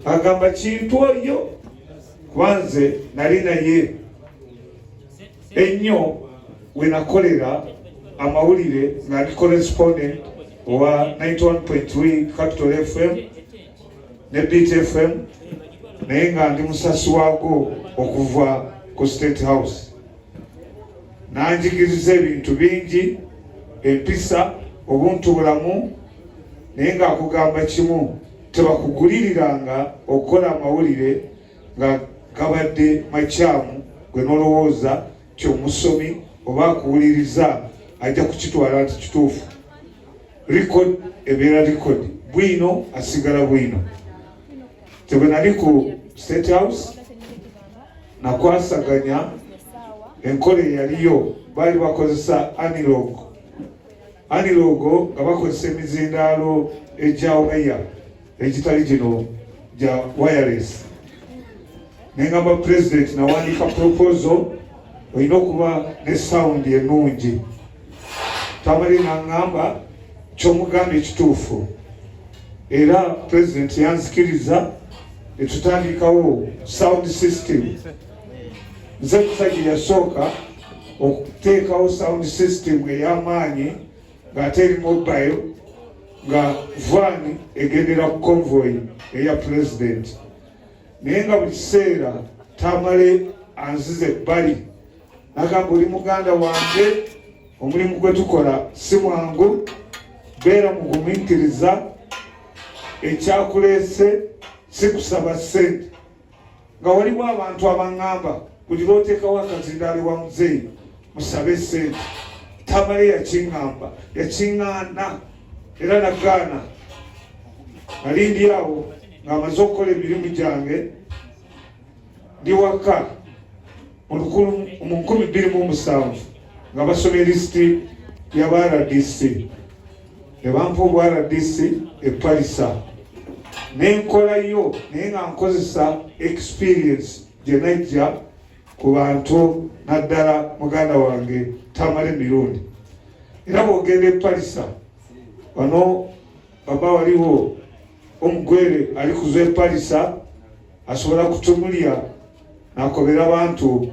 agamba kintu oyo kwanze nali naye ennyo wenakolera amawulire nga ndi correspondent owa 91.3 capital fm ne beat fm naye nga ndi musasi waago okuva ku state house nanjigiriza ebintu bingi empisa obuntu bulamu naye ngaakugamba kimu tebakuguliriranga okukola amawulire nga gabadde makyamu gwe nolowooza nti omusomi oba akuwuliriza ajja kukitwala nti kituufu record ebeera record bwino asigala bwino tebenali ku state house nakwasaganya enkola eyaliyo baali bakozesa anilog aniloogo nga bakozesa emizindaalo egya waya egitali gino gya wireless nengamba president nawandiika proposal olina okuba ne sound enungi tamale nangamba kyomugamba ekituufu era president yanzikiriza etutandikawo sound system nze kusajja yasooka okuteekawo sound system ey'amaanyi ng'ate eri mobile nga van egendera ku convoy eya president naye nga buli kiseera tamale anziza ebbali nagamba oli muganda wange omulimu gwe tukola si mwangu beera mugumikiriza ekyakuleese si kusaba sente nga waliwo abantu abaŋŋamba buli lw'oteekawo akazindaalo wa muzeeyi musabe ssente tamale yakiŋŋamba yakiŋŋaana era nagaana nalindi awo ng'amaze okukola emirimu gyange ndi waka mu lukulu mu nkumi bbiri mu omusanvu nga basoma erisiti ya ba rdc ne bampa obw rdc epalisa nenkolayo naye nga nkozesa experience gye najja ku bantu naddala muganda wange tamale mirundi era bwogenda epalisa wano baba waliwo omugwere ali kuza epalisa asobola kutumulya nakobera abantu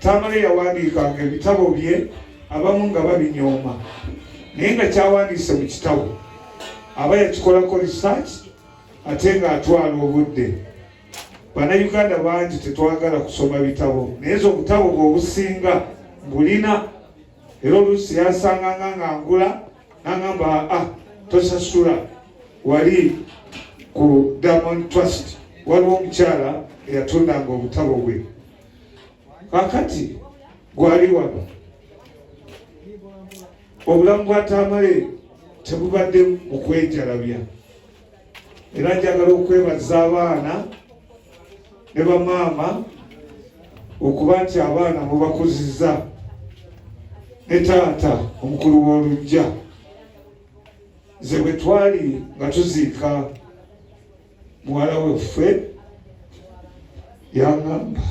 Tamale yawandiikanga ebitabo bye abamu nga babinyooma naye nga kyawandiise mu kitabo aba yakikolako research ate ng'atwala obudde bannayuganda bangi tetwagala kusoma bitabo naye zo obutabo bwe obusinga mbulina era oluusi yansanganga nga ngula nangamba a ah, tosasula wali ku diamond trust waliwo omukyala eyatundanga obutabo bwe kakati gwali wano obulamu bwa tamale tebubadde mu kwejalabya era njagala okwebaza abaana ne bamaama okuba nti abaana mubakuziza ne taata omukulu w'olujja ze bwe twali nga tuziika muwala weffe yangamba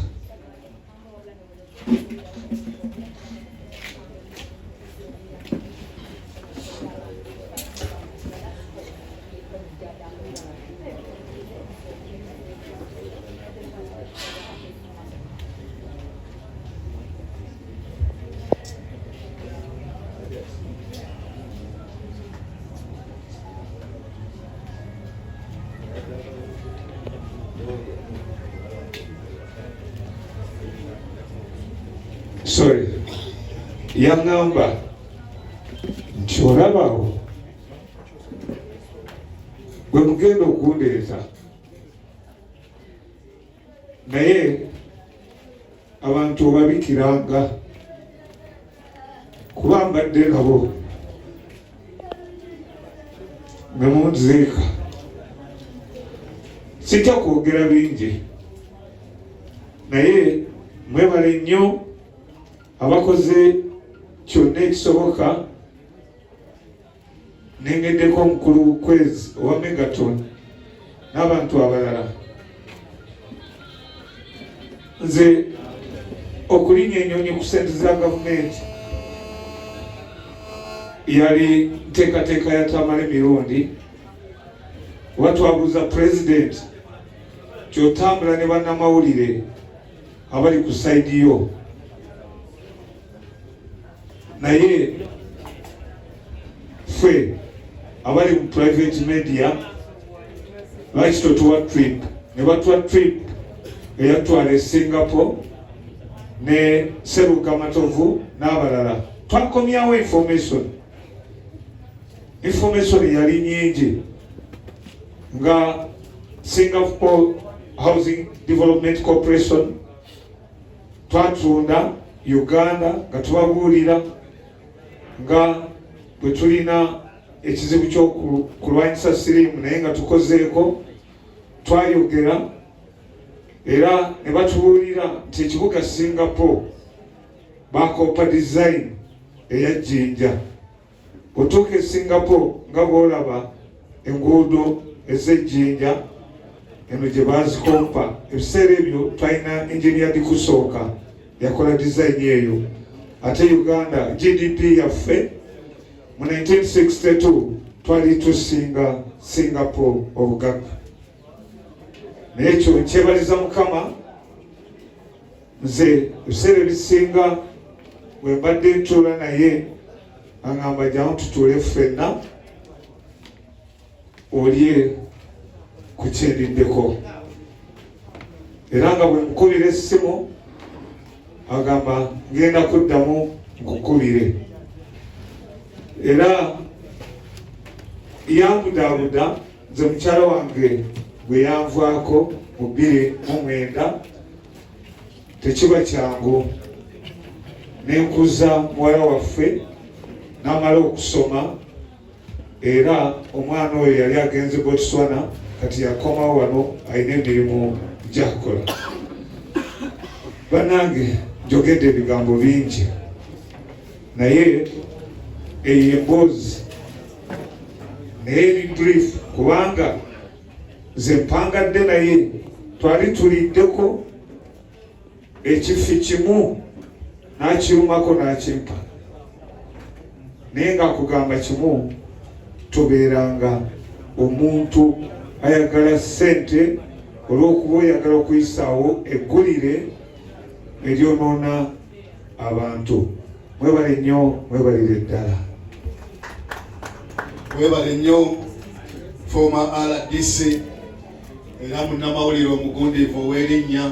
sorry yaŋŋamba nti olabawo gwe mugenda okundeeta naye abantu obabikiranga kuba mbadde nabo nemunziika sijja kwogera bingi naye mwebale nnyo abakoze kyonna ekisoboka nengeddeko omukulu kwezi owa megaton n'abantu abalala nze okulinya enyonyi ku sente za gavumenti yali nteekateeka ya tamale mirundi oba twabuuza pulezidenti kyotambula ne bannamawulire abali ku saidi yo naye ffe abali mu private media lwaki totuwa trip ne batuwa trip eyatwala e singapore ne seruka matovu n'abalala twakomyawo information information yali nyingi nga singapore housing development corporation twatunda uganda nga tubabuulira nga bwe tulina ekizibu kyokulwanyisa siriimu naye nga tukozeeko twayogera era ne batubuulira nti ekibuga singapore bakoopa dizayini eya jjinja otuuka e singapore nga bwolaba enguudo ez'ejjinja eno gye baazikompa ebiseera ebyo twalina enginia dikusooka yakola dizayini eyo ate uganda gdp yaffe mu 1962 twali tusinga singapore obugagga naye ekyo nkyebaliza mukama nze ebiseera ebisinga bwe mbadde ntuula naye aŋamba jamu tutuule ffenna olye ku kyendiddeko era nga bwe mukubira essimu agamba ngenda kuddamu nkukubire era yambudaabuda nze mukyala wange gwe yanvaako mu bbiri mu mwenda tekiba kyangu nenkuza muwala waffe namala okusoma era omwana oyo yali agenze botswana kati yakomawo wano alina emirimu gyakukola banange njogedde ebigambo bingi naye eyo emboozi naye eri brief kubanga nze mpangadde naye twali tuliddeko ekifi kimu nakirumako nakimpa naye nga kugamba kimu tubeeranga omuntu ayagala sente olwokuba oyagala okuyisaawo eggulire eryonoona abantu mwebale nnyo mwebalire ddala mwebale nnyo former rdc era munnamawulire omugundiivu ow'erinnya